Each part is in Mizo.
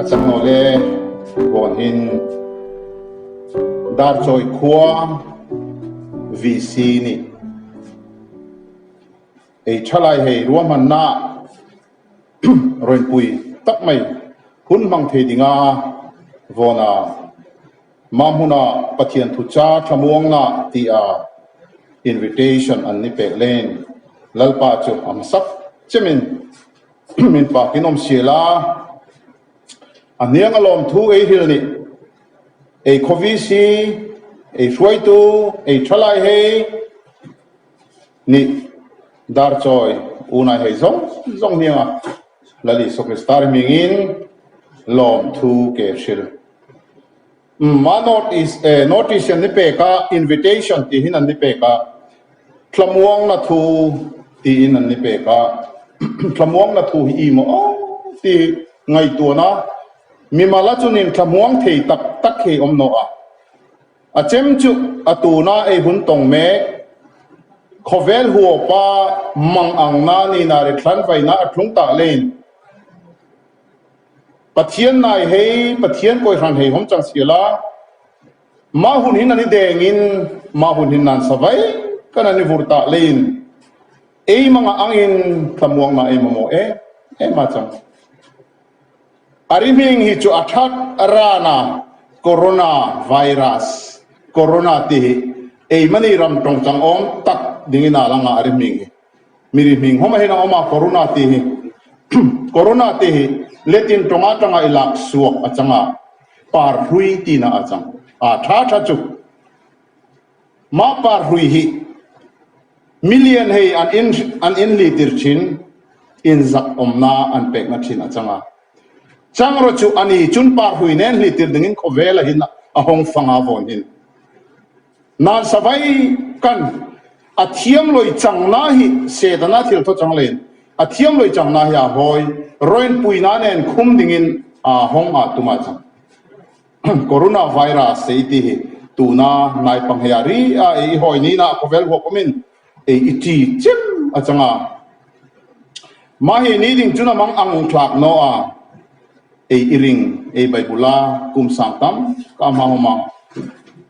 A chang lo le vawn hin dar chawi khuang VC ni ei tha lai hei ruam han na rawn pui tak mai hun hmang thei ding a vawn a. Mah hmuna Pathian thu cha thlamuang la tia invitation an ni pek lein Lalpa chu a hmasak chemin min fak in awm sia la a hniang alawm thu ei hril nih ei khawvi si ei hruaitu ei thalai hei nih dar chawi unai hei zawng zawng hnianga Lal Isu Krista rihming in lawm thu ke hril. Mah notice e, notice an ni pek a, invitation tiin an ni pek a, thlamuangna thu tiin an ni pek a, thlamuangna thu hi i maw aw ti ngaihtuah na, mimal a chunin thlamuang thei tak tak hi awm nawh a, a chem chu a tuna ei hun tawng mek, khawvel huapa mang ang na nina ri thlan vaina a tlung ta leiin, Pathian nai hei Pathian kawi hran hei hawm chang si la, mah hun hi nan i dengin mah hun hi nan sa vaih kha nan i vur tah leiin ei mangah angin thlamuakna ei mamawh em em a chang. A ri hming hi chu a that a ran a, Corona virus, Corona tih hi ei mani ram tawng chang awm tak dingin a lang a a ri hming hi. Mi ri hming hawngah hin a awm a, Corona tih hi. Corona tih hi Latin tawng atanga i lak suak a chang a, par hlui tinah a chang a. Tha tha chu, mah par hlui hi million hei an in an in hlihtir thin in zak awmna an pekna thin a chang a. Chang rawh chu a ni chun par hlui nen hlihtir dingin khawvel a hin a hawng fanga vawn hin. Nan savai kan a thiam loi chang na hi sedan a thil tho chang le in a thiam loi chang na hi aa hawi rawn pui na nen khum ding in aa hawng aa tum a chang. Corona virus sei ti hi tun a hnai pang hei ah ri a ei i hawi niin ah khawvel huap awm in ei i ti chem a chang a. Mah hi ni ding cun a mang ang thlak naw ah ei i ring ei Baibul a kum sang tam ka hmang awm a.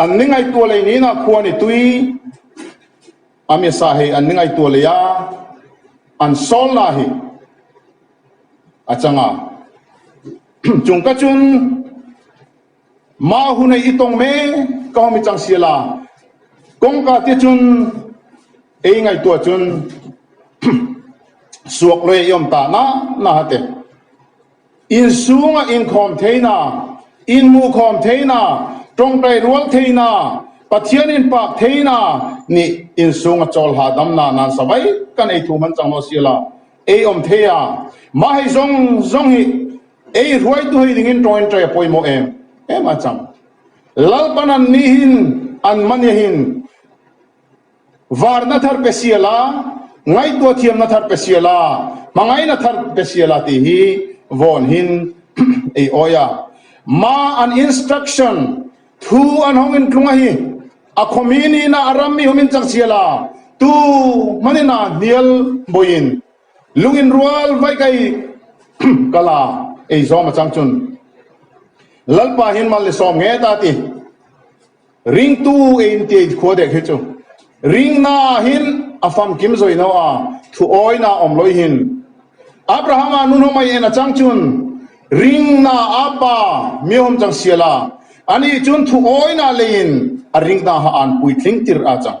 An ni ngaihtuah lei niin a khua ni tui a mesa hei an ni ngaihtuah lei a, an sawlna hi a changa. Chungka chun Mah hunei i tawng me ka hawm i chang si ala, kawngka tia chun ei ngaihtuah chun suak lawia i awm ta na na ha te Inchhunga inkhawm theihna, inhmuhkhawm theihna, tawngtai rual theihna, Pathian inpak theihna nih inchhunga chawlhla damnak nan savai ka nei thu hman chang lo a si lo. Ei awm thei a, mah hei zawng zawng hi ei hruaitu hei dingin tawng in tei a pawimawh em em a chang. Lalpa nan nih hin an mania hin. Varna thar pe si a la, ngaihtuah thiamna thar pe si a la, hmangaihna thar pe si a la tih hi Vaughanin ei awi a. Ma an instruction, thu an hawng in tlunga hi a khawmi niin a ram mi humin chak si a la, tu hmanin a hnial bawi in lung in rual vaih ka i ka la ei zawm a chang chun Lalpahin mal ni sawm nge ta ti. Ringtu e inti a inkhua dek hi chu. Ring na ah hin a famkim zawih no a, thuawi na awm lawi hin. Abraham a nu hnawmai en a chang chun ring na a pa miahum chang sia la, anih chun thuawi na lei in a ring na ha an puitling tirh a chang.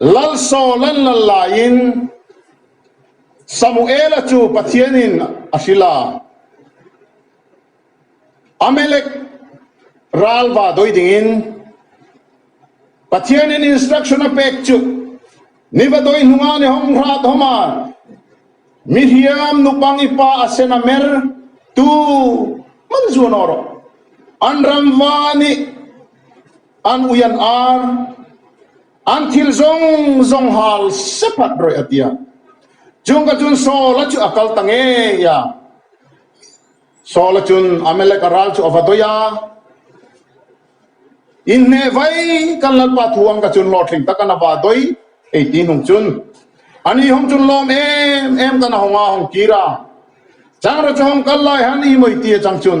Lalsawn an la laiin Samuela chu Pathian in a hrilh a, Amelek ralva dawi ding in Pathian in instruction a pek chu ni va dawi hnung ah ni hawm hlah thawm a, mi hriam nu pang i pa a sen a mer tu hman zuan aw rawh an ramva nih. An ui an ar, an thil zawng zawng hal se phat rawih a ti a. Chung ka chun Saula chu a kal ta ngei a. Saula chun Amaleka ral chu a va dawih a. In hneh vai kan lalpa thu ang ka chun hlawhtling tak an a va dawih, ei ti hnung chun an ihawm chun lawm em em kan a hawng a, hawng kir a. Changreu chu hawng kal lai han ihmawih ti a chang chun.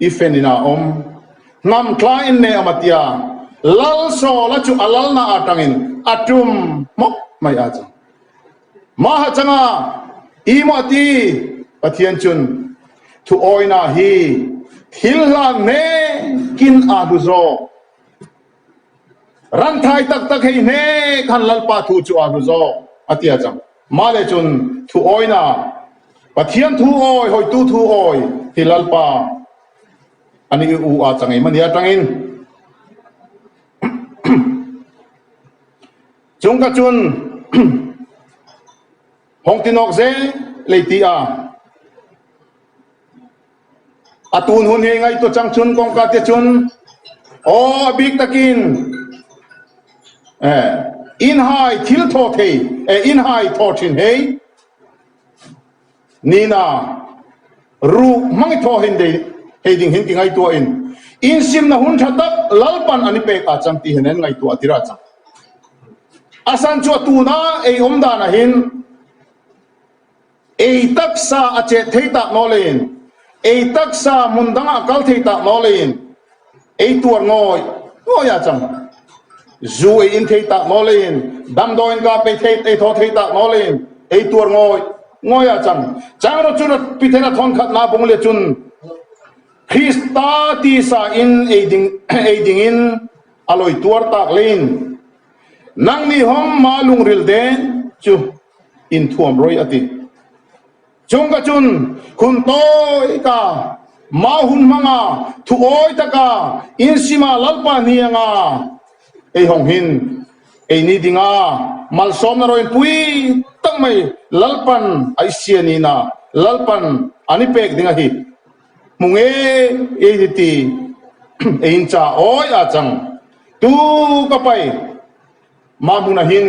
I fen in ah awm hnam thlai in neh awm a tia Lalsawla chu a lalna ah tangin a tum hmawk mai a chuang. Maha changa i maw a ti? Pathian chun thuawina hi thil hlan hmekin aa hlu zawk. Rangthai tak tak hei hle khan Lalpa thu chu aa hlu zawk a ti a chang. Mah le chun thu awina Pathian thu awi, hawitu thu awi ti Lalpa an i u a chang emawni atangin chung kha chun Hawngtinawk zel lei ti a. A tun hun hi ngaihtuah chang chun kawngka te chun aw a bik takin eh in hai thil thaw thei eh in hai thaw thin hei Nina ru hmang i thaw hende hei ding hin ti ngaihtuah in in simna hun tha tak Lalpan an i pek ah chang ti hian ngaihtuah a ti rah chang. Asan chu a tunah ei awm dan ah hin. Ei taksa a chet thei tah nawlin, ei taksa hmun dang a kal thei tah nawlin, ei tuar ngawi ngawi a chang. Zu ei in thei tah nawlin, damdawi in kap ei thei ei thaw thei tah nawlin, ei tuar ngawi ngawi a chang. Chang rawt chu rawt pi thena thawn khat na bung le chun Krista tisa in ei ding ei ding in a lawi tuar tak lein nang nihawm ma lungril deh chu. Inthuam roi a ti. Chungka chun hun tawi ka mau hun hmanga thuawi taka in sima Lalpa hnih anga ei hawng hin ei ni dinga malsawmna roi pui tak mai Lalpan a i sia nihna Lalpan an i pek ding a hi hmu nge ei hi ti ei in cha awi a chang tu ka pai mah hmun ahin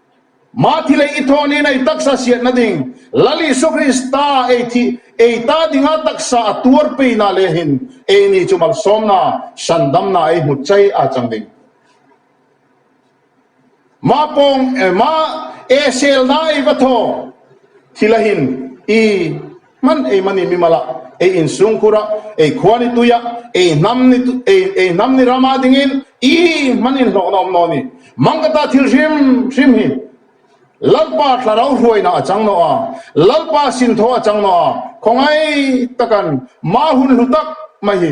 Mah thi leh i thawn in ei taksa siat na ding Lal Isua Krista ei thi ei ta ding a taksa a tuar pei na leh hin ei ni chu malsawm na hran dam na ei hmu chai a chang ding. Mah pawng mah ee sel na ei va thaw thi leh hin i Hman ei mani mi mala, ei in sungkhura, ei khua ni tuia, ei hnam ni ei hnam ni rama dingin i hman in hlawhna awm naw ni? Mangkata thil hrim hrim hi Lalpa thlarau hruaina a chang naw a, Lalpa sinthaw a chang naw a, khawngai takan mah hun hlu tak mai hi.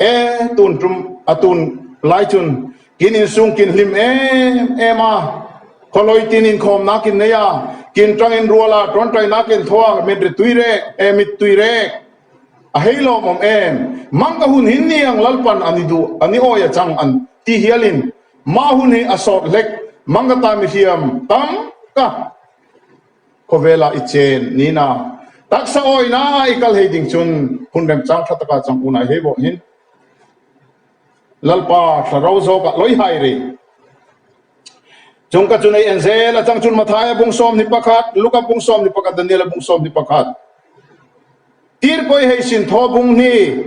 E, tun tum a tun lai chun kin in sung kin hlim em em a, khawlawi tin inkhawm nak in nei a, kin tang in rual a, tawntai nak in thaw a, mitri tui rek e, mit tui rek a hei lawm awm em, mang ka hun hin niang Lalpan a ni duh a ni awih a chang an ti hial in mah hun hi a sawt hlek, mang ka ta mi hliam tam ka. Khawvela i chen, nina. Taksa awi na i kal hei ding cun hun rem chang tha taka chang unai hei bawh hin Lalpa thla ro zawk ah loi hai rih. Chungka cu nei en zel a chang cun Matthai a bung sawm hnih pakhat, Luka bung sawm hnih pakhat, Daniel a bung sawm hnih pakhat. Tirhpawih hei sin thaw bung hnih.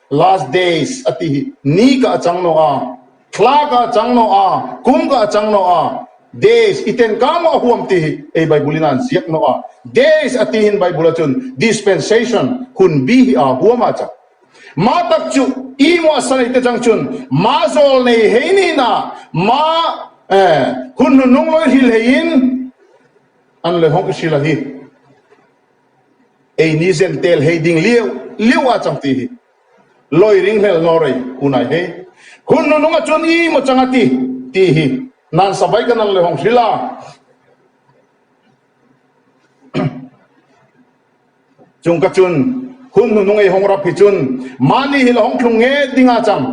Last days a ti hi ni ka a chang nawh a, thla ka a chang nawh a, kum ka a chang nawh a, days i ten kang maw a huam ti hi ei Bible in a an ziak nawh a. Days a ti hin Bible a chun dispensation, hun bi hi aa huam a chang. Mah tak chu i maw a sa nei te chang chun mah zawl nei hei niin ah mah hun hnunung lawihrilh hei in an lehawng i hrilh a hi. Ei ni zen tel hei ding liau liau a chang ti hi lawi ring hlel hnawh rei hunai hei hun nu nung a chun i maw chang a ti ti hi nan sa vai ka nang lehawng hri la. Chung ka chun hun nu nung ei hawng rap hi chun mahni hi la hawng thlung nge ding a chang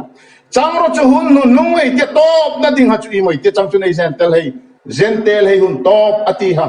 chang rawh chu hun nu nung ei tia tawp na ding ha chu i maw i tia chang chun ei zen tel hei zen tel hei hun tawp a ti ha.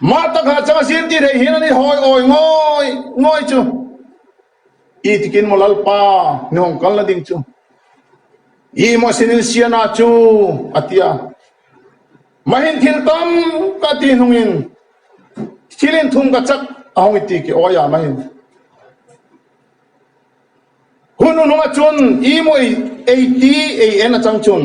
Mah tak hnah chang a zir tih rei hian an i hawi awi ngawih ngawih chu i tikin maw Lalpa ni awm kal na ding chu i maw sin in sian a chu a ti a. Mahin thil tam ka ti hnung in thil in thum ka chak a hawng i ti ki awi a mahin hun u hnung ah cun i maw ei ti ei en a chang cun.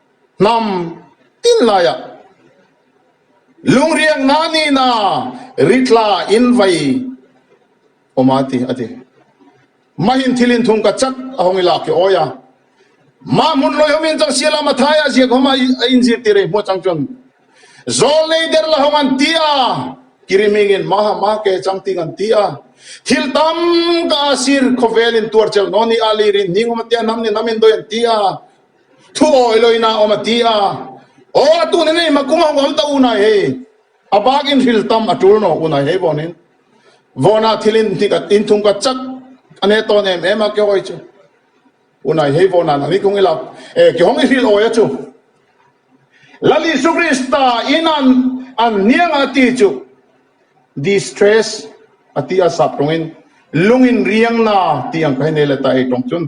Hnam tin laiah lungriak hna nih na ri tla in vai um a ti a ti. Mah in thil in thung ka chat a hawng i lak i awi a. Mah hmun lawihawm in cang sialam a thai ah ziakhawm ah a in zir ti rei hmuh cang cun zawl nei der la hawng an ti a ki ri ming in mah ah mah ke cang ting an ti a. Thil tam kah a sir khawvel in tuar celh nawn i ah lei rin hning um a tiah hnam nih hnam in dawih an ti a Thu awi lawin a awm a ti a. Aw a tun enge ma kum a huam ta u nai hei, a bakin hril tam a tul nawh u nai hei vanin Vawna thil in hnik a in thung ka chat a hneh tawn em em a ke hawi chu u nai hei Vawna'n an i thung ila e ke hawng i hril awi a chu Lal Isu Krista in an an hniang a ti chu distress a ti a sap tawngin lungin riangna ti ang ka hi nei leh ta ei tawng chun.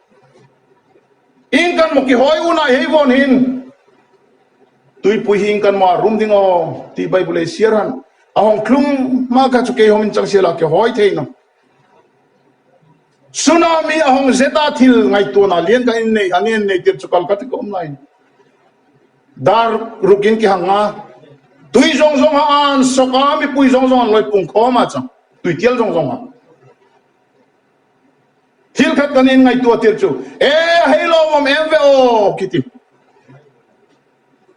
Hing kan maw ki hawi u nai hei vawn hin tuipui hing kan maw a rum ding aw tih Bible ei siar han a hawng thlum hma kha chu kei hawm in chang sia la ki hawi theih na tsunami a hawng zeta thil ngai tuan a lian ka in nei an en nei tir chu kal ka ti kawm lai dar ruk in ki hanga tui zong zong a an soka mipui zong zong an loi pung khawm a chang tui tial zong zong a Thil khat kan in ngaihtuah tir chu, E, hei lawmawm em ve awk i ti.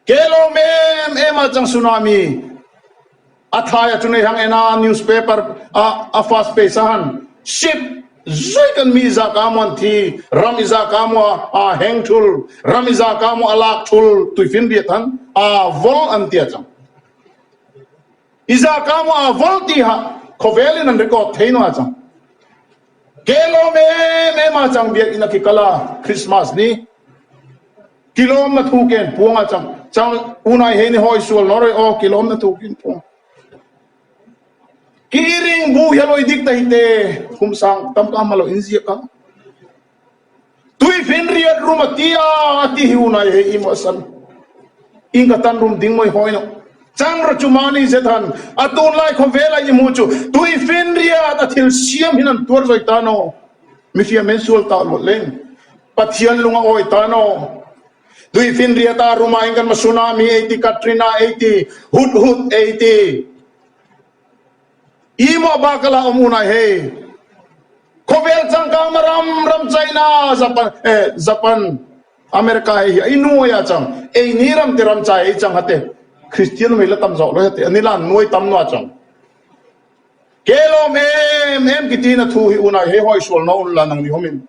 Ke lawm em em ah chang Tsunami a thlai a chun eihang en a newspaper ah a fast page ah han ship zui kan mi za ka muan thi ram i za ka mua ah heng thul ram i za ka mua a lak thul tuifin riat han ah vol an tia chang. I zaka maw a vul ti hah khawvel in an record thei nual chang. Kei lawm em em ah chang biak in a ki kal a, Christmas ni ki lawm na thu ken puang ah chang chang U Nai He ni haw i sual naw reh aw ki lawm na thu ken puang ki i ring bu hialoidik tei te khumsang tam ka hmalo in ziak a. Tui vin riat rum a tia a ti hi unai hei hi mahsan in ka tan rum ding mawi hawi loh. Chang ra chu mahni zet han a tunlai khaw vel a i hmu chu tui vin riat a thil siam hin an tuar zawih tan aw. Mifiam in sual tah luat leh in Pathian lung a awi tan aw. Tui vin riat a rum ah in kan hma Tsunami ei ti, Katrina ei ti, Hudhud ei ti. I mah bakal ah awm unai hei. Khawvel changkangna ram ram China, Japan eh Japan, America hei hi a i nuai a chang. Ei ni ram te ram chai a i chang ha te. Kristian mi la tam zawk lawi ha te an i lan nuai tam nuah chang. Kei lawm em em kitin a thu hi unai hei hawi sual no la nang nihawm in.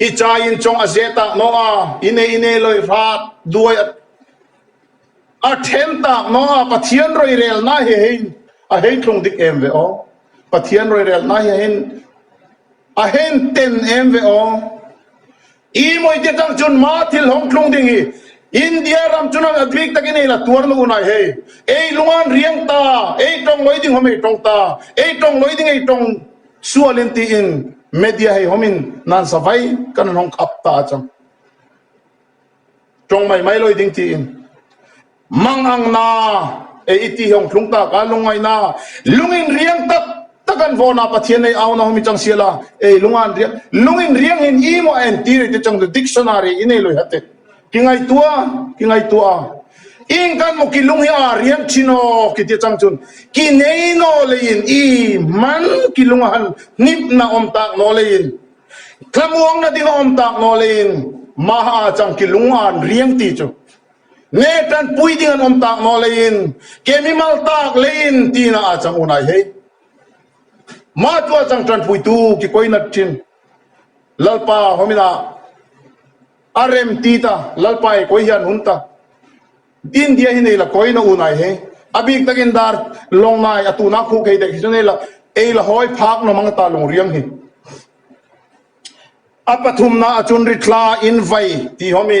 I chai in chawng a zeh tak maw a, i nei i nei lawih hlak duai a then tak maw a, Pathian roirel nai hi ahin a hei thlung dik em ve aw, Pathian roirel nai hi ahin a hen ten em ve aw. I mawih te chang chun ma thil hawng thlung ding hi India ram chun a bik tak in ei la tuar na u nai hei, ei lungan riang ta, ei tawng lawi ding hom ei tawng ta, ei tawng lawi ding ei tawng. Sual in tih in media hei hawm in nan sa vai ka nan hawng khap ta a chang. Tawng mai mai lawi ding tih in mang ang na e i tih hi awng thlung ta ka lung ngai na lung in riang tak tak an vawn a Pathian nei au na hawm i chang sia la e lung an riang lung in riang hin i maw a en ti rei te chang du dictionary i nei lawi ha teh Ki ngaihtuah a, ki ngaihtuah a, ing kan hmu ki lung hi aa riam thin aw ki ti chang chun ki nei naw lei in i hman ki lung a han hnimh na awm tak naw lei in thlamuang na ding a awm tak naw lei in mah a aa chang ki lung a an riam ti chu nge tan pui ding an awm tak naw lei in ke mi mal tak lei in ti na aa chang unai hei mah tu a chang tan pui tu ki koi nat thin lalpa hawm in a A rem ti ta, Lalpa e kawi hian hun ta. India hi nei la kawi na u nai he. A bik tak in dar long nai a tuna khuh kei dek hi chu nei la ei la hawi phak nawm ang a ta lung riang hi. A pathum na a chun ri thla in vai ti hawm i.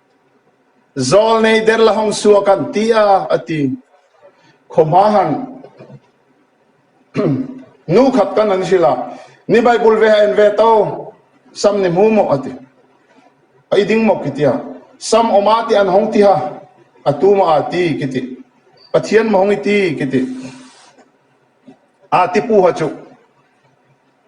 Zawl nei der la hawng suak an ti a, a ti. Khaw hma han nu khat kan an hrilh a, ni Baibul ve ha en ve to, sam ni hmu maw a ti. A i ding maw ki ti a, sam awm a ti an hawng ti ha, a tu maw aa ti ki ti, Pathian maw hawng i ti ki ti. Aa ti pu ha chu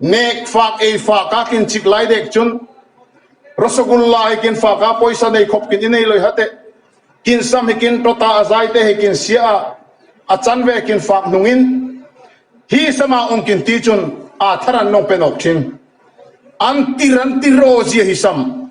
Nek fak ei fak a kin chik lai dek chun Rasagulla hi kin fak a pawisa nei khawp kin i nei loi ha teh. Kin sam hi kin tawt a, a zai te hi kin siah a, a chan ve kin fak hnung in Hi sam ah awng kin ti chun aa thar an lawng pen awk thin. An tir an tir aw zia hi sam.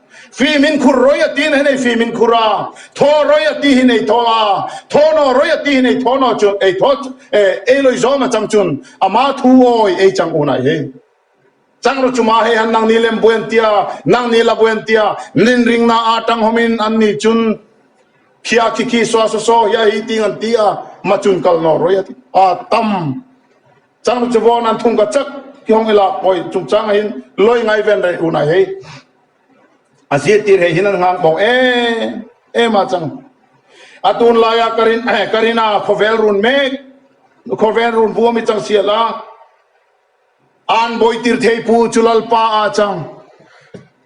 Fimin khur rawi a tihna hi nei fimin khur a, thaw rawi a tih hi nei thaw a, thaw naw rawi a tih hi nei thaw naw chun ei thaw eh ei lawi zawm a chang chun ama thu awi ei chang unai hi chang rawh chuma hei han nang ni lem buai an ti a nang ni la buai an ti a nin ring na a tang hawm in an ni chun khia khi khi swa swa swa hi a hi ting an ti a ma chun kal naw rawi a ti a tam Changlu chu vawn an thung ka chak i hawng i lak pawi chungchang ah hin lawi ngai ven rei hunah hi a zir tir hei hin an nghang bawk em em a chang. A tun laia Karina khawvel run mek khawvel run bu a mi chang sial a an bawi tir thei pu chu Lalpa a chang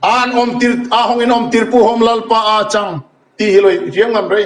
an awm tir a hawng in awm tir pu hawm Lalpa a chang tih hi lawi riang ngam rei.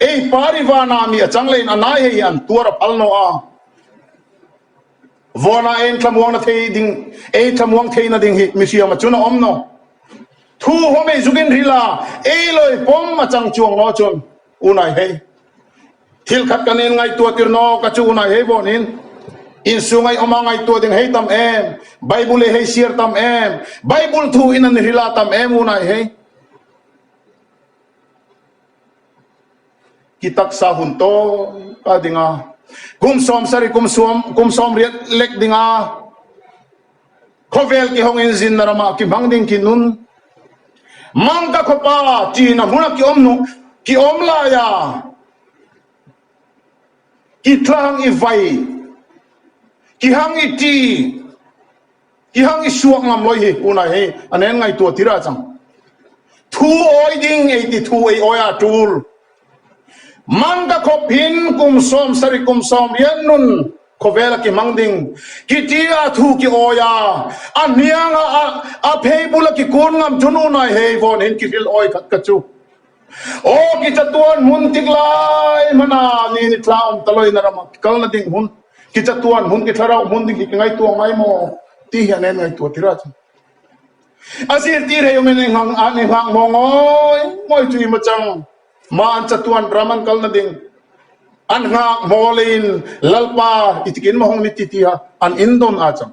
Ei Parivana mi a changleiin a nai hei hian tuar a phal nawh a. Vawnah eng thlamuangna thei ding, ei thlamuang theihna ding hi mihriam a chun a awm nawh. Thu haw mei zukin hril a, ei lawi pawm a chang chuang nawh chun u nai hei. Thil khat kan in ngaihtuah tir nawh ka chu u nai hei vawn in insung a i awm a, ngaihtuah ding hei tam em, Bible e hei siar tam em, Bible thu in an hril a tam em u nai hei. Ki taksa hun tawka ding a. Kum sawm sarih kum sawm kum sawm riat lek ding a. Khawvel ki hawng in zinna ram ah ki hmang ding ki nun. Mang ka khawpa tiin a hmun ah ki awm hnu ki awm lai a. Ki tlang i vai ki hang i ti. I hang i suak ngam lawi hi tunah hi a nen ngaihtuah tirh a chang. Thu awi ding ei ti thu ei awia tul. Mang ka khawp hin kum sawm sarih kum sawm rian nun khawvela ki hmang ding ki tia thu ki awia a hnianga a a phei bula ki kun ngam chun unai hei vawn hin ki hrilh awi khat ka chu. Aw ki chatuan hmun tik lai hmana ni ni thla awm ta lawin a ram a ki kalna ding hun ki chatuan hun ki thlarau hmun ding hi ki ngaihtuah ngai maw tih hian en ngaihtuah tirh a chang a zirtir hei awm in i ngang an i nghak maw ngawi ngawi chu i maw chang mah an chatuan ram an kalna ding an nghak maw leiin lalpa i tikin mahawng ni ti ti a an indawn a chang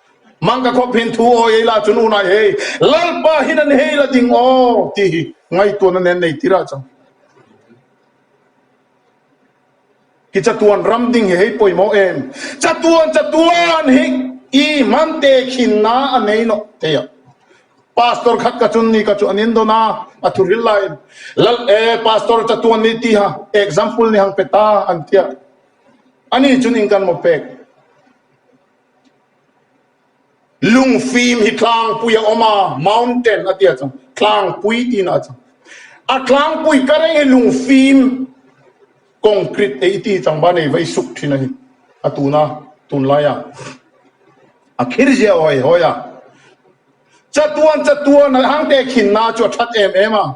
Mang ka khawp hin thu aw ei la chun unai hei Lalpa hin an hei la ding aw tih hi ngaihtuan a nen nei tir a chang. Ki chatuan ram ding hi hei pawimawh em? Chatuan chatuan hi i hman te khin na a nei nawh thei a. Pastor khat ka chun ni ka chu an indawn a, a thu ril la em? Lal e Pastor chatuan ni ti ha example ni hang pe ta an ti a, ani chun in kan maw pek? Lungfim hi tlangpui a awm a, mountain a tia chuan tlangpui tiin a chang. A tlangpui ka reng hi lungfim concrete ei ti chang ba nei vai suk thin a ni. A tuna tunlai a a khir zia hawi hawi a. Chatuan chatuan a hangte khinna chu a that em em a.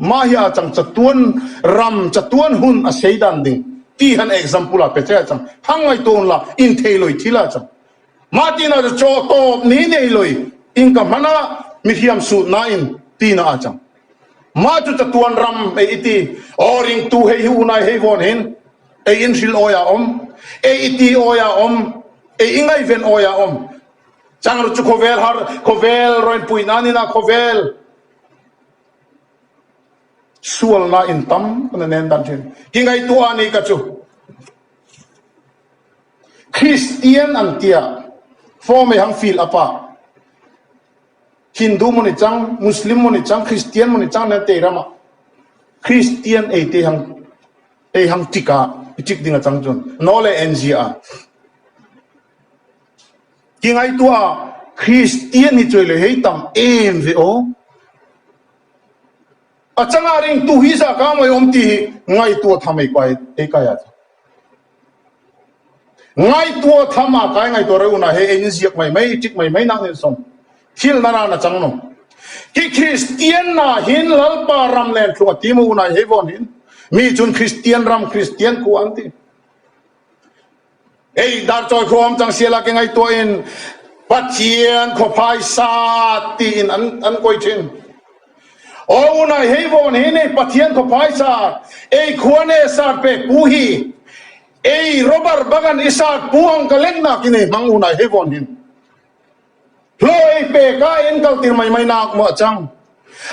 Mahia chang chatuan ram chatuan hun a sei dan ding ti han example ah pe che a chang. Phang ngai tawh hun la inthei lawi thil a chang. Mah tin ah chu chaw tawp ni nei lawi in ka hman a mi hriam suh na in tin ah a chang. Mah chu chatuan ram ei i ti aw ring tu hei hi unai hei vawn hin ei in hril awi ah awm, ei i ti awi ah awm, ei i ngaihven awi ah awm chang ru chu khawvel har khawvel rawipuih nan in a khawvel. Sualna in tam ka na nen dan thin. Hi ngaihtuah a ni ka chu. Kristian an tia form ei hang fill up ah Hindu mawni chang, Muslim mawni chang, Kristian mawni chang nen tei ram ah Kristian ei te hang ei hang tick ah i tick ding a chang chun no leh nzia a. Ti ngai tu a, Kristian ni chuai leh hei tam em ve aw. A changa ring tu hi za kang mai awm ti hi ngai tu a tham ei kai ei kai a. Ngai tu a tham a kai ngai tur a unah he in ziak mai mai tik mai mai nak nen sawn thil na ran a chang lo. Ki Kristian na hin lalpa ram nen thlung a ti mo unah hei vawn hin mi chun Kristian ram Kristian khu an ti. Hei dar chawi huam chang sia la ke ngaihtuah in Pathian khaw phai sa tiin an kawih thin. Aw u nai hei vawn hi ni Pathian khaw phai sa ei khua ne sat pek pu hi ei Robert Bagan i sat pu ang ka leng nak i ni hmang u nai hei vawn hin hlaw ei pek a en kal tir mai mai nak maw a chang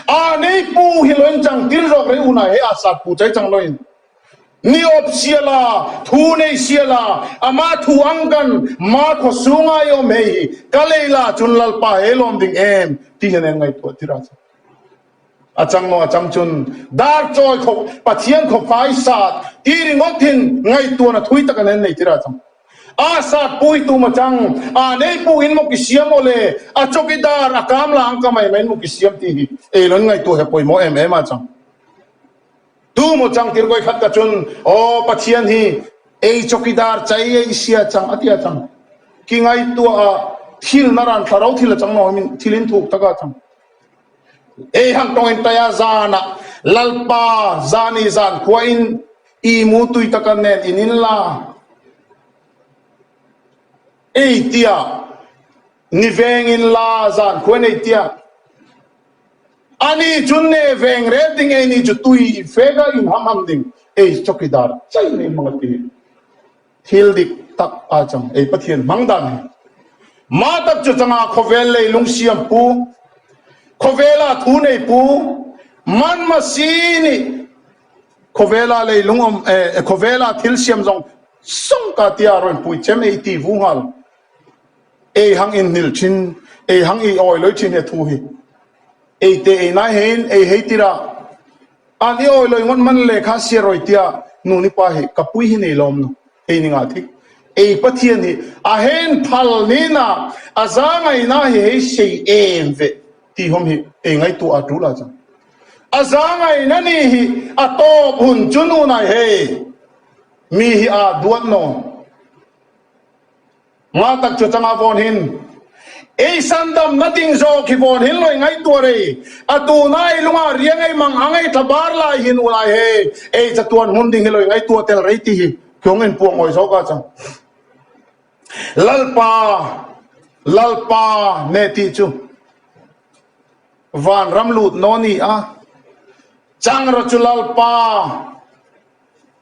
a nei pu hi loin chang tir zawk rei u nai hei a sat pu chai chang loin Ni awp sia la, thu nei sia la, amah thu ang kan ma khaw sung ai awm hei hi, ka lei la chun Lalpa he lawm ding em? Ti hian an ngaihtuah tirh a. A chang maw a chang chun dar chawi khaw Pathian khaw fai sat ti ringawt in ngaihtuahna thui tak an en nei tirh a chang. Aa sat pu hi tum a chang, aa nei pu in maw ki siam aw le, a chawk i dar a kam la ang ka mai main maw ki siam ti hi ei lo in ngaihtuah he pawimawh em em a chang. Tumaw chang tirhkawih khat ta chun aw Pathian hi ei chawkidar chai a i sia chang a ti a chang. Ki ngaihtuah a thil na ran thla ro thil a chang maw em in thil in thuk tak a chang. Ei hang tawng in taia zan ah Lalpa zan i zan khua in i mu tui tak a nen in in la ei tiah. Ni vengin la zan khuan ei tia ani chun ne veng rel ding ei ni chu tui feka in ham ham ding ei choki dar chai mai hmanga ti ni thil dik tak a chang ei Pathian hmang dan hi ma tak chu chang a khawvel lei lung siam pu khawvela thu nei pu manma si ni khawvela lei lung om e khawvela thil siam zong song ka tia rawn pui chem ei ti vu nghal. Ei hang in hnil thin, ei hang i awi lawi thin e thu hi. Ei te ei nai he in ei hei tirah an i awi lawi ngawt man le kha sia rawi tiah nu ni pa hi ka pui hi nei lawm lo. Ei ni ngah thik. Ei Pathian hi a hen phal nin ah a za ngai na hi hei sei em ve ti hawm hi ei ngai tuah a tul a chang. A za ngai na ni hi a tawp hun chu nu nai he mi hi aa duat nawn. Nghal tak chutanga vawnhin Eisan damna ding zawk hi vawnhin lawih ngai tuah rei. A tuna ei lungah ria ngei mang a ngei thla bar lai hi nu lai he ei chatuan hmun ding hi lawih ngai tuah tel rei tih hi thung in puang ngawi zawk a chang. Lalpa, Lalpa hne tih chu van ram lut naw nia. Changra chu Lalpa.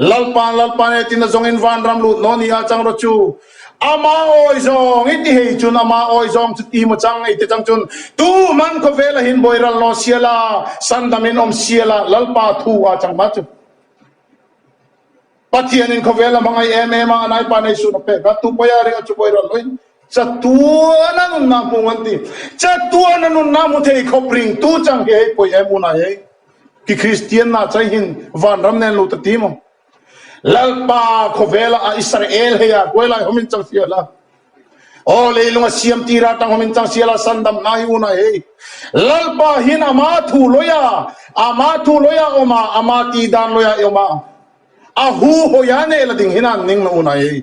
Lalpan, Lalpan he tina zawngin Vanram lut naw nia chang rawh chu. Ama awi zawng i ti hei chun ama awi zawng chu ti maw chang ei te chang chun tu hman khawvel ahin Bawiral naw sia la, san damin awm sia la Lalpa thu a chang hma chu. Pathianin khawvel a hmangaih em em a, a naipa nei suhna pek a, tupawia ringa chu Bawiral nawiin Chatuan a nunna hmung an ti. Chatuan a nunna hmu thei khawpring tu chang khe hei pawih em hunah hian khi kristianna chaihin vanram nen lu ta ti maw? Lalpa khawvela a Israel heia hruailai hawmin chang si hala. Aw leilunga siam tir atang hawmin chang si hala sandam hna hi hunah hei Lalpa hin ama thu lawia ama thu lawia awma ama ti dan lawia i awma a hu hawia neh la ding hina an ning lo hunah hei.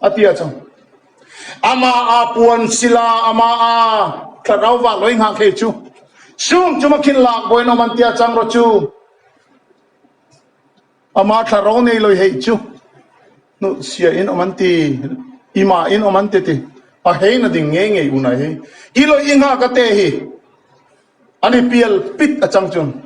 A ti a chang. Amah a puan sila amah a tla rau vak loi nghah khei chu sum chu makhin lak bawiin awm an ti a chang rawh chu. Amah tla rau nei loi hei chu hnuh sia in awm an ti, i mah in awm an ti ti. A hei na ding ngei ngei unai hei. I loi i nghah ka te hi. A ni pial pit a chang chuan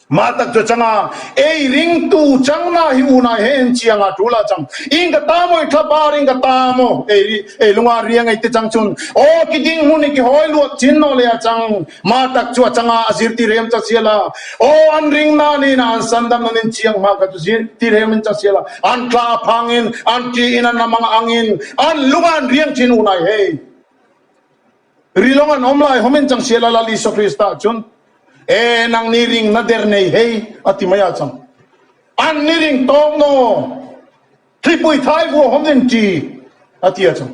mah tak chu a chang a, Ei ringtu changna hi unai he en chiang a, ṭul a chang i in ka ta maw i thla bar in ka ta maw ei ei lunga ria ngei te chang chuan aw ki ding hmun i ki hawi luat chin naw le a chang mah tak chu a chang a, a zir tirem cha sial a, aw an ring na ni na an san dan an in chiang hma kha chu zir tirem in cha sial a, an tla a phang in an ṭih in an a mang ang in an lunga an riang chin unai he. Rilawng an awm lai hawmen chang Sial a Lal Isua Kristah chuan, E nang ni ring na der nei hei a ti mai a chang. An ni ring tawk naw, hlipui thlaivu a hawm rin ṭi a ti a chang.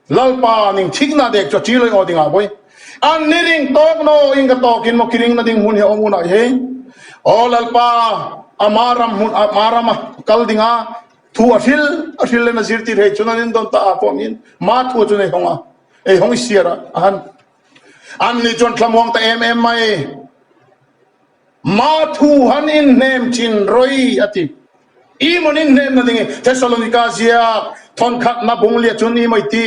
Lalpa ning thikna dek chu a ṭiloih aw ding ah vawi. An ni ring tawk naw, in ka tawkin maw ki ring na ding hmun hi a awm unai hei? Aw Lalpa, a hma ram hmun, a hma ram a kal ding a. Thu a hril, a hril lem a zir tih theih chuan a rin dawn ta ah pawh min maa thu a chun ei hawng a, ei hawng i siar a a han. An ni chuan thlamuang ta em em mai, maa thu han inhnem thin rawi a ti. I mawn inhnemna ding i Thessalonica ziak thawnkhatna bung liah chuan i mawi ti.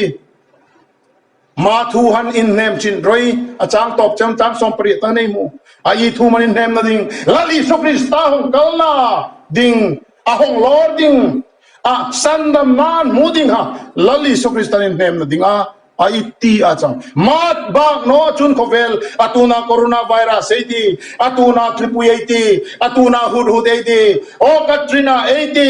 Ma thu han inhnem chin roi, a chang tawp cheu tlang sawm pariat ta nei mu. A i thu man inhnem na ding, Lal Isu Krista hawng kal na ding, a hawng lawr ding, a san dam nan hmu ding ha, Lal Isu Krista in hnem na ding a, a i ti a chang. Ma bak naw chun khawvel, a tun ah Corona virus ei ti, a tun ah thlipui ei ti, a tun ah huthut ei ti, aw Katrina ei ti,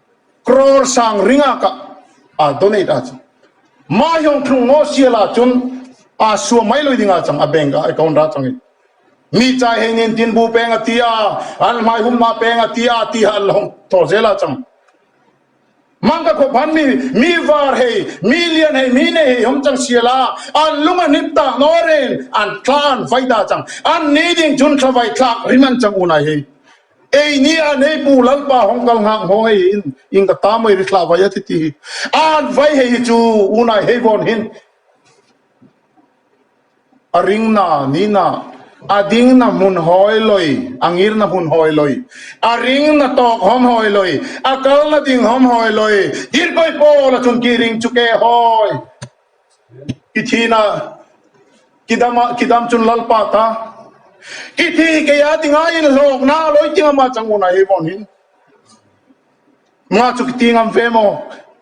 Crore sang ringa ka a donate a chang. Mahiawng thlung ngaw sia la chun a suam mai loi ding a chang a bank a account a chang i. Mi chai hei nen tin bu peng a ti a, an hmai hum hna peng a ti a ti ha an la hawng thaw zel a chang. Mang ka khaw phan mi, mi var hei, mi lian hei, mi nei hei hawng chang sia la an lung a hnip tak naw reng an thla an vai ta chang. An ni ding chun thlavai thlak rim an chang unai hei. Ei ni a nei pu Lalpa hawng kal nghak hmawh ngei hi in in ka ta mai ri thlah vai a titi hi an vai hei hi chu u nai hei vawn hin a ring na ni na a ding na hmun hawi lawi a ngir na hmun hawi lawi a ring na tawk hawm hawi lawi a kal na ding hawm hawi lawi dirpawi pawl a chung ki ring chu ke hawi. Ki thin a, ki dam a, ki dam chun lalpa ta. Ki thi kei a tingai in hlawk na a lawi tinga ma chang u na hi vawn hin. Ma chu ki ti ngam ve maw?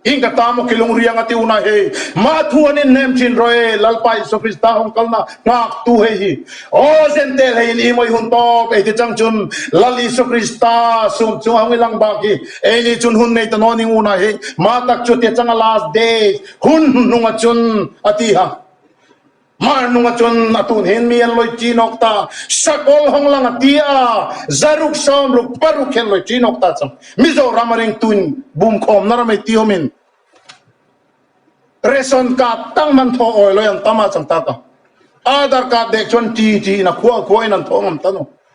Hing ka ta maw ki lungriang a ti u na hi? Ma thu an in hnem thin raw e, lalpa Iso Krista hawng kal na nghak tu hei hi. Aw Zentail hei in i mawih hun tawk ei ti chang chun Lal Iso Krista sum chunga hawng i lang bak hi. Ei nih chun hun ngei ta nawn ning u na hi. Ma tak chu a ti a chang a last days. Hun hnunga chuan a ti ha. Hmar hnunga chuan a tu nen mi an lawi ṭin awk ta. Sakawl hawng lang a ti a, zaruk, sawmruk, paruk hi an lawi ṭin awk ta chuan Mizoram a ringtuin bum khawmna ram ei ti awmin Ration card tang man thaw awi lawi an ta mah chang ta ka. Aadhar card dek chuan ṭi ṭiin a khua khuain an thaw ngam ta nu.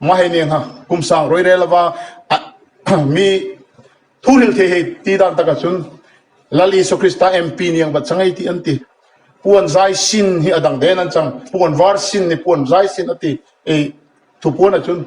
Mah hei nen ha kum sang rawi rel ava mi thu ril thei hei ti dan taka chun Lal Isu Krista MP niang vat changei ti an ti. Puan zai sin hi a dang den an chang. Puan var sin ni puan zai sin a ti ei thupuan a chun.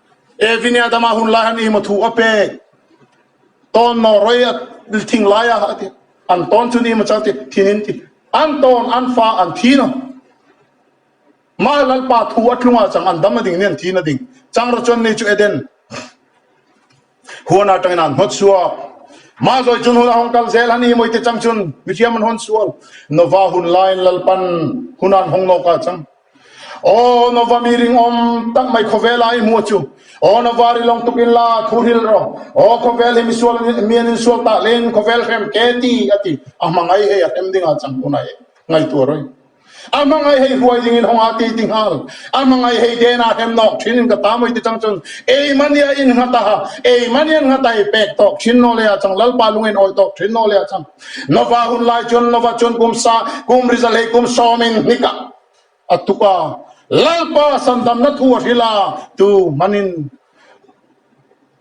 E Vinya dama hun lai han ihma thu a pek ton no roi a thing lai a ati an ton chun ihma chang ti thin in ti an ton an fa an thi no ma lalpa thu a tlunga chang an dam na ding ni an thi na ding chang ra chon ni chu Eden Huan atangin an hnawt sual. Mah zawi cun hun a hawng kal zel han i mawite cang cun mithiam an hawn sual. Nova hun laiin Lalpan hun an hawng nawk ah cang. Aw Nova mi ringawm tak mai khawvel ah i hmu a cu. Aw Nova ri lawng tukin la a khuh ril ro. Aw khawvel hi misual mi an in sual tah leng khawvel hrem ke ti a ti. A hmangaih he a hrem ding ah cang hun ah he ngaihtuah roi. A hmangaih hei hruai dingin hawng a ti ti nghal. A hmangaih hei den a hrem nawk thin in ka ta mawi ti chang chun ei mani a in nghat a, ei mani an nghat a hei pek tawk thin naw leh a chang, Lalpa lung a in awi tawk thin naw leh a chang. Nova hun lai chuan Nova chuan kum sa kum rizal hei kum sawm in hnik ah a tuk a, Lalpa sandamna thu a hril a, tu hman in.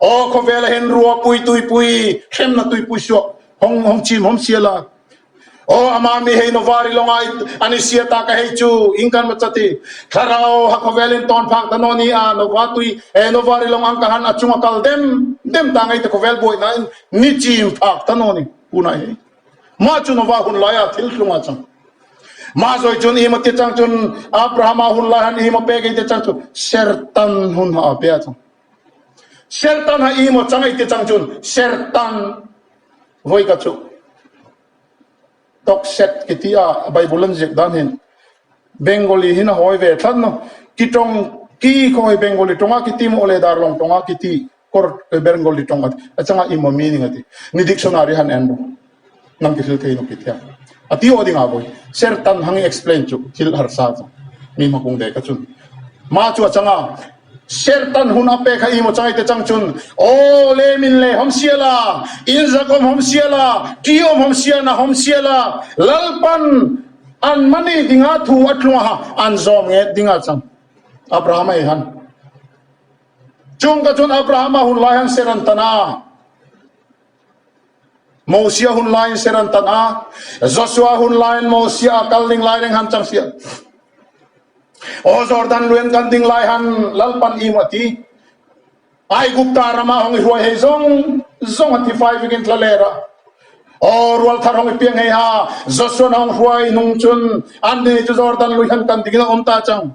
Aw khawvel ah hian rua pui tui pui hremna tui pui suak hawng hawng chim hawm sia la aw amah mi hei Novari lawnga i an i sia ta ka hei chu in kan hmu chati thlarau ha khawvel in tawn phak ta naw ni a Nova tui eh Novari lawng ang kha han a chung a kal dem dem ta ngei ta khawvel buai na in ni chim phak ta naw ni hunah hi mah chu Nova hun lai a thil hlung a chang mah zawi chun imo tia chang chun Abraham a hun lai han imo pek ei tia chang chu ser tan hun ha a pe a chang. Ser tan ha emaw changai te chang chun ser tan voi ka chuh tawk set ka ti a bible an ziak dan hin bengali hin a hawi ve thlan lo ki tawng ki khaw hi bengali tawng a ki ti maw le darlong tawng a ki ti kawr bengali tawng a chang a emaw meaning a ti ni dictionary han en bawk. Lam ti thil theiin upit hian a ti aw ding ah vawi ser tan hang i explain chu thil harsa chu mi hma kung dei kha chun ma chu a chang a ser tan hun a pek a i mawchai te chang chun aw le min le hom sia la in zak awm hom sia la ti awm hom sia na hom sia la lalpan an mani ding a thu a tlung a an zawm nge ding a chang abraham a han chung ka chun abraham a hun lai han ser an tan a Mosia hun laiin ser an tan a, Joshua hun laiin Mosia a kal ding lai reng han chang hria. Aw Jordan luiin kan ding lai han lalpan ium a ti. Aigupta ramah hawng i hruai hei zawng zawng a tifai vekin thla ler ah aw rual thar hawng i piang hei ha. Joshua na hawng hruai hnung cun annih cu Jordan lui han kan ding in an um ta cang.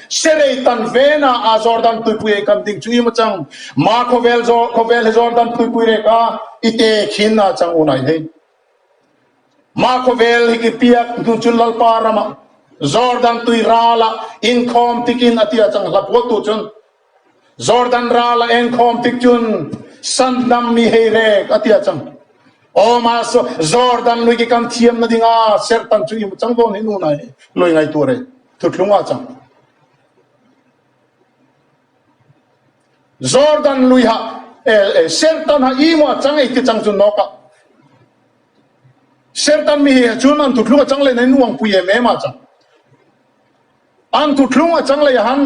Serei tan vena a Jordan tuipui ei kan ding chu i mu chang ma khawvel zawh khawvel he Jordan tuipui rek a i te khin a chang unai hei ma khawvel hi ki piak hnu chu lalpa rama Jordan tui rala inkhawm tikin ati a chang hlapual tu chun Jordan rala enkhawm tik chun san dam mi hei rek ati a chang oma so Jordan lui ki kan thiam na dinga ser tan chu i mu chang don hin unai lui ngai tu rei Thutlunga chang. Jordan luiha eh sertan ha i mua chang ei ti chang chu nok ah sertan mi he chun an thutlunga chang le nen uang pui em em a chang an thutlunga chang le han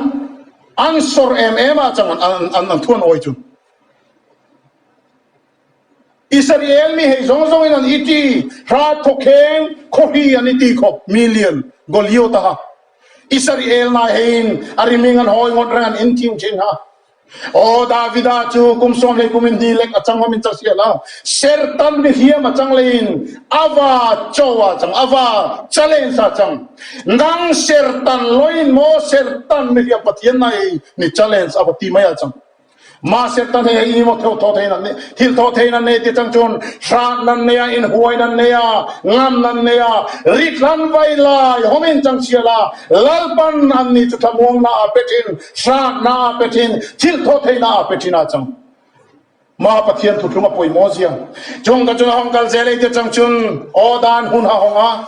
an sor em em a chang an an an thuan oi chu Isariel mi hei zawng zawngin an i ti, Hrat khawkheng khawhri an i ti khawp, million, Goliot a ha. Isariel hna heiin a riming an hawi ngawt reng an in thim ṭhin ha. Aw, Davida chu kum sawm lei kum in hni lek a chang awmin chasiah hna. Ser tan mi hliam a chang leiin a va cho a chang, a va challenge a chang. Nang ser tan loin maw ser tan mi hliam Pathian hna hi ni challenge a va ti mai a chang. Mahse ta hne hi emaw theu thaw theihin an nei, thil thaw theihin an nei ti chang chuan hrat nan nei a, inhuai nan nei a, ngam nan nei a, ri thlan vai lai hawmin chang chhial a, lalpan an ni chu thlamuangna a pe thin, hratna a pe thin, thil thaw theihna a pe thin a chang. Mah Pathian thutthlung a pawimawh zia. Chungkha chuan a hawng kal zel ei ti chang chuan aw dan hun ha hawng a.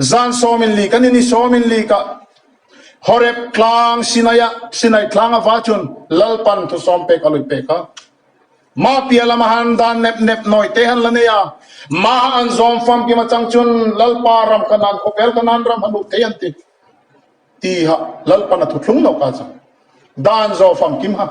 Zan Sawmin Lik an ini Sawmin Lik ah Horeb tlang Sinai ah Sinai tlang a va chun Lalpan thu sawm pek a lui pek a. Mah piah lam ahan dan nep nep nawi te han la nei a. Mah an zawm famkim a chang chun Lalpa ram kha nan khawvel kha nan ram hanuh thei an ti. Ti hah Lalpan a thuthlung lawk a chang. Dan zaw famkim hah.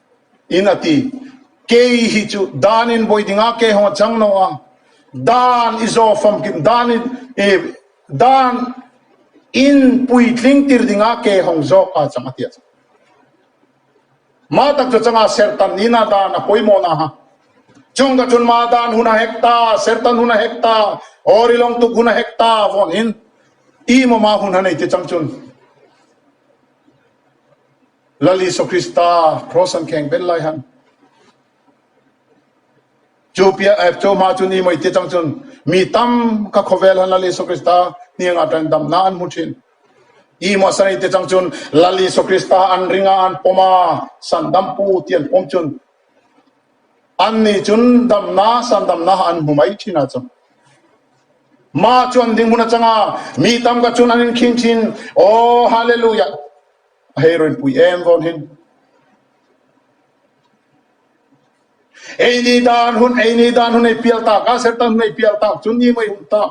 In a ti. Kei hi chu dan in bawi ding a, kei ho a chang no a. Dan i zaw famkim, dan i e, dan in puitling tir ding a, kei hong zawk a chang a ti a chang. Mah tak chu a chang a, Sertan niin a dan a pawimawh na ha. Chung ka chun mah dan hun a hek ta, Sertan hun a hek ta, Awri lawng tuk hun a hek ta vawn in, i maw mah hun ha nei te chang chun. Lal Isua Krista Kraws han kheng ber lai han. Chu pia eh, chu ma chu ni mawi ti chang chun mi tam ka khawvel han Lal Isua Krista hniang ah tan dam na an hmu thin. I maw sani ti chang chun Lal Isua Krista an ring ah an pawm a, san dam pu ti an pawm chun. An nih chun dam na, san dam na an hmu mai thin ah cun. Ma chu an ding bun a chang a, mi tam ka chun an in khing thin. Aw, Hallelujah. Hei rawn pui em vawn hin. Eini dan hun eini dan hun ei pial tak a sertan hun ei pial tak chun ni mai hun ta.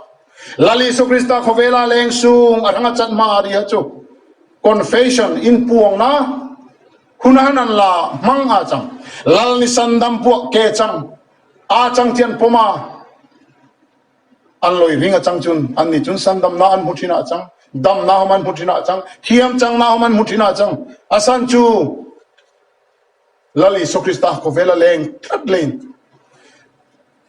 Lali Isu Krista khovela leng sung a ranga chan ma ri ha chu. Confession in puang na hun han an la mang a chang. Lal ni sandam puak ke chang a chang thian poma An lawi ving a chang chun an ni chun san damna an hmu thin a chang, damna hawm an hmu thin a chang, thiam changna hawm an hmu thin a chang. A san chu Lal Isu Krista khawvel a leng tlat lei.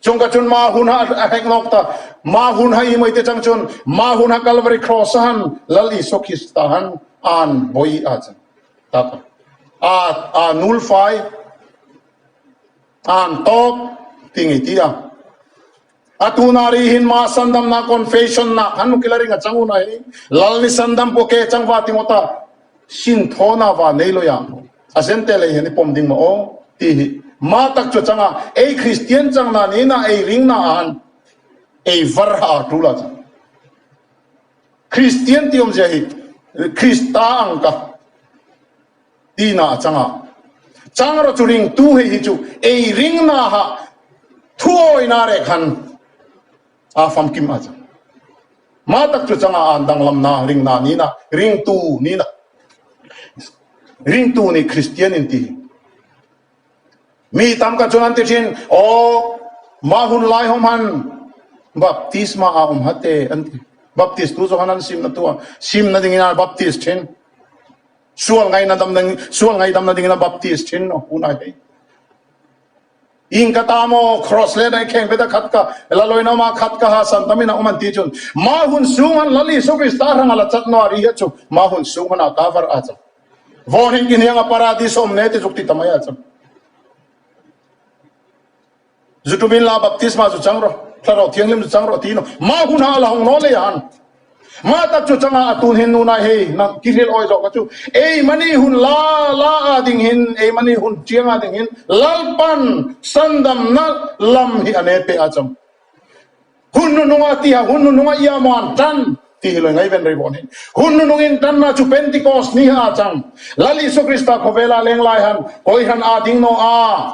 Chung kha chun mah hunha a hek lawk ta. Mah hunha i maite chang chun mah hunha Calvary Cross a han Lal Isu Krista han an bawi a chang tak a. Aa aa nulfai, a han tawp ti nge ti a. A tuna ri hin ma sandamna confession na kan nu kila ring a chang una hi lal ni sandam pawh ke chang va tingo ta sin thaw na va nei loya a zen te lei hian i pawm ding ma aw ti hi ma tak chu changa ei christian chang na ni na ei ring na ahan ei var ha a tula chang christian ti awm zia hi christa ang ka tina changa changra chu ring tu hei hi chu ei ring na ha thu awi na reh khan a fam kim a chang ma tak chu changa an dang lam na ring na ni na ring tu ni na ring tu ni christian in ti mi tam ka chun an ti chin o ma hun lai hom han baptisma a um hate an ti baptist tu chu han an sim na tu a sim na ding ina baptist chin Sual ngaina damna ding, sual ngai damna dingin a baptist thin a hunah hian Ing ka ta maw, cross leh daih kheng peta khat ka la lawin awm a, khat ka ha san tamin a awm an tih chuan mah hun sung han Lal Isu Krista hrang a la chat maw a ri hiat chu mah hun sung hmanah ka varh a chang. Vawn in inhnianga paradis a awm nge tih chu ka ti ta mai a chang. Zu tumin la baptisma zu chang rawh, Hlarau thianghlim zu chang rawh ti nung. Mah hunah a la hawng nawl leia an. Mah tak chu chang a, a tun hin nunai hei nang ki hrilh awih zawh ka chu. Ei mahni hun la la ah ding hin, ei mahni hun tiang ah ding hin Lalpan sandam na lam hi a ne peh a chang. Hun nunung ah tiah hun nunung ah ia maw an tan ti hi loi ngai ven rei vawn hin. Hun nunung in tan na chu Pentecost ni ah a chang. Lal Isu Krista khawvela leng lai han kawihran ah ding naw a.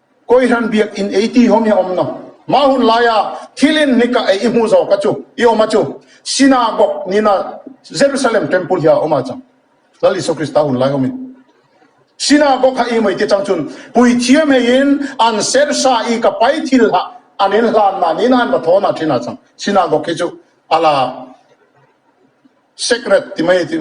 Kawi hran biak in ei ti hawm hi a awm nawm. Mah hun laia thil in hnik ah ei i hmu zawk a chu i awm a chu Synagogue nih na Jerusalem Temple hi a awm a chang. Lal Isua Krista hun laihawm in Synagogue ha i mei te chang chun puithiam hei in an sersa i ka pai thil ha an in hlan na nih na an va thawn a thin a chang. Synagogue hi chu a la sacred ti mai a ti.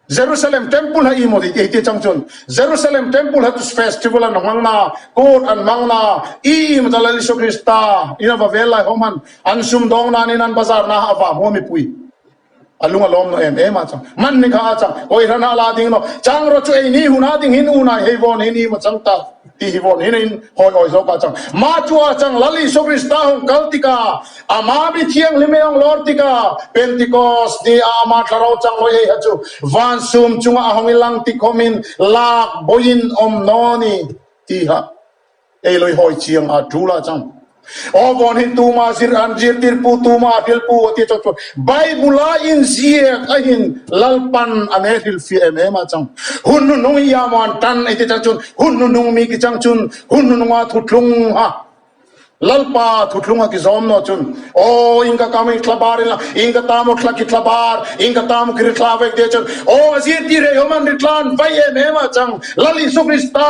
Jerusalem Temple ha imaw ni tih ti chang chuan Jerusalem Temple ha chu festival an rawn hmang na, kut an hmang na, ii maw ta lal Isu Krista in a va vel lai ho hman an sum dawng nan in an bazar na a va hmuh mipui a lung a lawm nawh em em a chang. Hman ni kha a chang, kawihra hna la ding nawh chang rawh chu ei ni hun a ding hin unai hei vawn hin ii maw chang ta. Tih hi vawn hinein hawi awi zawk a chang. Mah chu a chang lal Isua Krista hawng kal tikah, amah mi thianghlim hi a hawng lawr tikah, Pentikawst ni ah amah thla ro chang lawi eiha chu van sum chungah a hawng i langtikhawm in lak boin awm nawn i tihah ei lawi hawi chiang a tul a chang. Aw vawn hi tuma zir an zirtir pu tuma a hrilh pu a ti chawt chu Bible-a inziak a hin lalpan a nei hril fiah em em a chang. Hun hnunung i iah maw an tan a ti chang chun hun hnunung mi ki chang chun hun hnununga thuthlung ha lalpa thuthlung a ki zawm naw chun aw in ka kam i thla bar ila in ka ta maw thla ki thla bar in ka ta maw ki ri thla vek ti chun aw a zirtir rei awm an ri tlan vai em em a chang Lal Isu Krista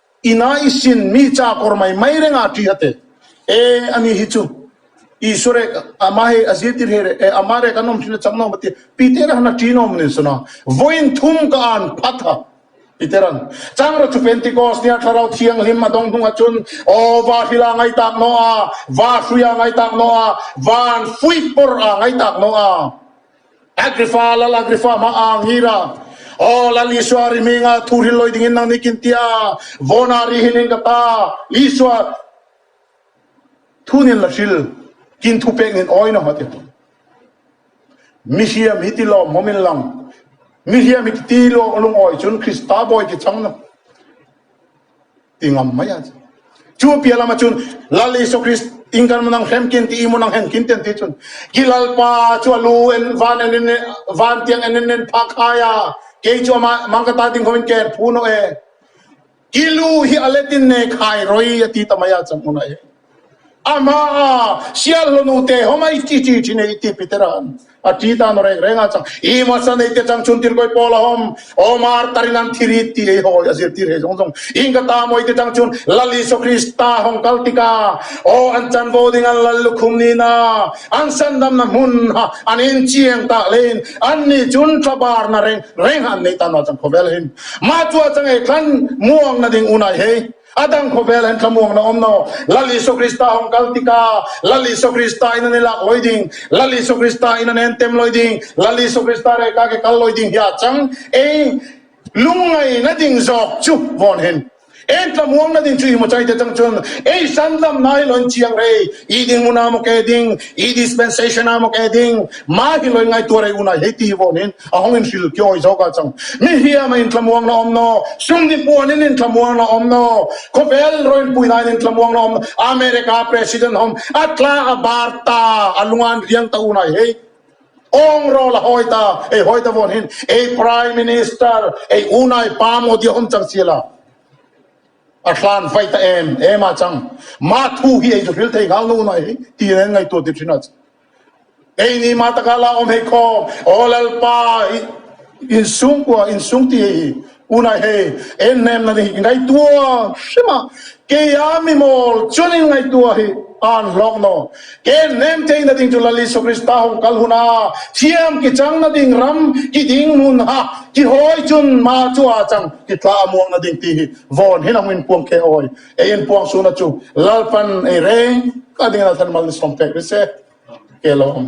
Ina i sin mi cha kawr mai mai renga tih a te e a nih hi chu Isua rek ama hei a zir tir her e ama rek an awm thin a chang nawm a ti pi te rahna ṭi nawm nen sawn a vawiin thum ka an phat a i te ran chang rawh chu Pentecost nia Thlarau Thianghlim a dawng hnung ah chuan aw va hril a ngai tak nawh a va hrui a ngai tak nawh a van fuih pawrh a ngai tak nawh a. Agripha, Lal Agripha hma a ang hira, Aw, Lal Isua ri hming a thu hrilh lawi dingin nang ni kin ti a, Vawna ri hinin ka ta, Isua thunin la hril, kin thu peknin awiin aw a ti. Mi hria mi ti lawm hmawm in lang, mi hria mi ti lawm lung awi cun Krista bawi ti chang na. ti ngam mai a. Chu piah lamah chuan Lal Isu Krist in kan mun ang hlemkin ti i mun ang henkin ti an ti chuan Ki Lalpa chu a lu en van en in van tiang en in en phah khai a, kei chu amah mang ka ta ding ho in kei an phu nawh e. Ki lu hi a let in nei khai roi a ti ta mai a chawhmuna e. A hma a sialhlawh nu te ho mai chi chi thin ei ti Peter a han a ti tan aw reng reng a chang i hmasa nei te chang chun tilkawi pawl a hawm Omar tarin an thir i ti ei hawi a zir tir hei zawng zawng in ka ta mawi te chang chun Lal Isua Krista hawng kal tik a aw an chan bo ding an lal lukhum ni na an sandam na hmun ha an in chiang ta hle in an ni chun thla bar na reng reng ha an nei tan aw chang khawvel hin mah chu a chang ei thlan muang na ding unai hei A dang khawvel an thlamuakna awm lo. Lal Isu Krista hawng kal tika, Lal Isu Krista in an i lak lawi ding, Lal Isu Krista in an en tem lawi ding, Lal Isu Krista rehkha ke kal lawi ding hi ah chang ei lungngai na ding zawk chu vawnhen en tlamuang na ding chu i hmuchai te chang chun ei sandam na hi lawn chiang rei i ding mun a maw ke ding i dispensation a maw ke ding ma hi lawi ngai tuar rei unai hei ti hi vawnhen a hawng in hril kiawng zawk a chang. Mi hiama in thlamuang na awm naw, sum ni puan in in thlamuang na awm naw, khawvel rawiin pui nain in thlamuang na awm naw, America President hawng a tla a bar ta, a lunga an riang ta unai hei, awng rawl a hawi ta, ei hawi ta vawn hin ei Prime Minister, ei unai pa Modi a hawm chang si ala, a hlan fai ta em em a chang. Mah thu hi ei zu hril thei nghal na unai hei, ti in an ngaihtuah tirhrin a chang. Ei ni mah taka la awm hei khawm aw lalpa hi insung kua insung ti hei hi unai hei en hnem na nih ngaihtua hre mah kei a mimawl chuanin ngaihtua hi an hlawk naw en hnem thei na ding chu lal Isu Krista hawng kal hun a thiam ki chang na ding ram ki ding hun ha ki hawi chun mah chu a chang ki tla a muang na ding ti hi vawn hi na hmin puang khe awi. Kei in puang suna chu lalpan ei reng ka ding lalthan mal ni sawm pek ri se ke lo awm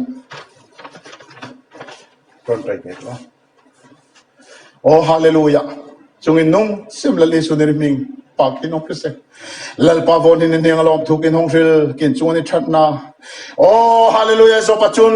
ron pai pek lo oh hallelujah chungin nung sem lal isu ni ri hming pa kin awm ri se lalpa vo ni ni hniang alom thukin hawng hril kin chunga ni thatna oh hallelujah zop a chun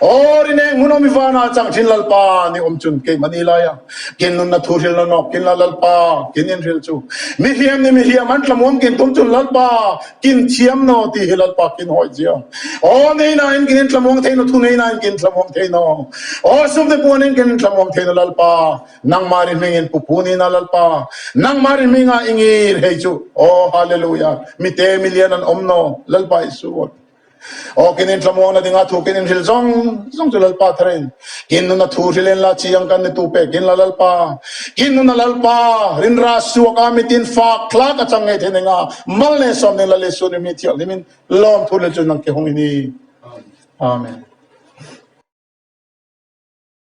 Aw, rin eng hmun awmi vana a chang thin Lalpa nih awm chun kei mahni laia kin nunna thu hrilna nawk kin la Lalpa kin in hril chu mi hliam ni mi hliam an tlamuam kin tum chun Lalpa kin thiam naw ti hi Lalpa kin hawi zia aw nei nain kin in tlamuang thei naw thu nei nain kin thlamuang thei naw aw sum te pawh nen kin in thlamuang thei naw Lalpa nangmah ri hmingin pupu nina Lalpa nangmah ri hminga i ngir hei chu aw Hallelujah mi te mi lian an awm naw Lalpa Isu aw. Awk in inthlamuang na dingah thuk in inhril zawng zawng chu Lalpa thar in Kin nuna thu hril in la chiang kan ni tu pek in la Lalpa, Kin nuna Lalpa, rinra suak a mit in fak thlak a chang ngei thei ning a mal nen sawm ding la Lisu nih mi thialhlim in lawm thu hlel chu nang ke hung i ni. Amen.